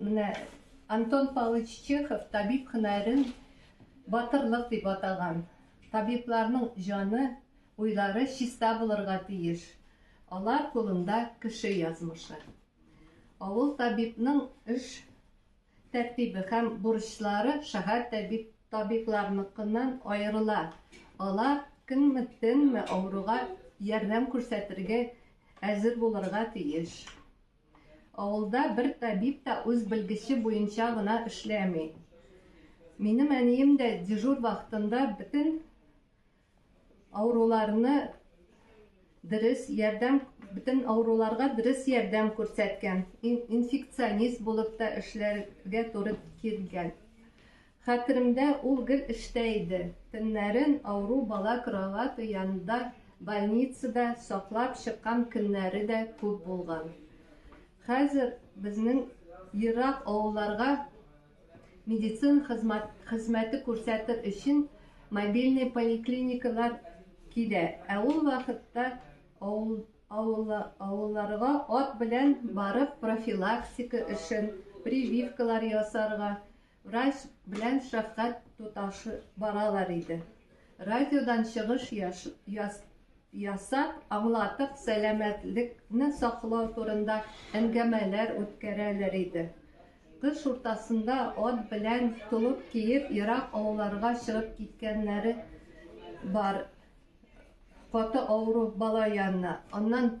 Менә Антон Павлович Чехов табиб һөнәрен батырлык дип атаган. Табибларның җаны, уйлары чиста булырга тиеш. Алар кулында кеше язмышы. Авыл табибның эш тәртибе һәм бурычлары шәһәр табибларныкыннан аерыла. Алар көнме, төнме авыруга ярдәм күрсәтергә әзер булырга тиеш. Авылда бер табиб та үз белгече буенча гына эшләми. Минем әнием дә дежур вакытында бөтен авыруларны дөрес ярдәм, бөтен авыруларга дөрес ярдәм күрсәткән, инфекционист булып та эшләргә туры килгән. Хәтеремдә, ул гел эштә иде. Төннәрен авыру бала кровате янында больницада саклап чыккан көннәре дә күп булган. Хәзер безнең ерак авылларга медицина хезмәте күрсәтер өчен мобильный поликлиникалар килә, ә ул вакытта авылларга ат белән барып профилактика өчен, прививкалар ясарга, Врач белән шәфкать туташы баралар иде. Радиодан чыгыш ясап, аңлатып, сәламәтлекне саклау турында әңгәмәләр үткәрәләр иде. Кыш уртасында ат белән толып киеп, ерак авылларга чыгып киткәннәре бар. Каты авыру бала янына. Аннан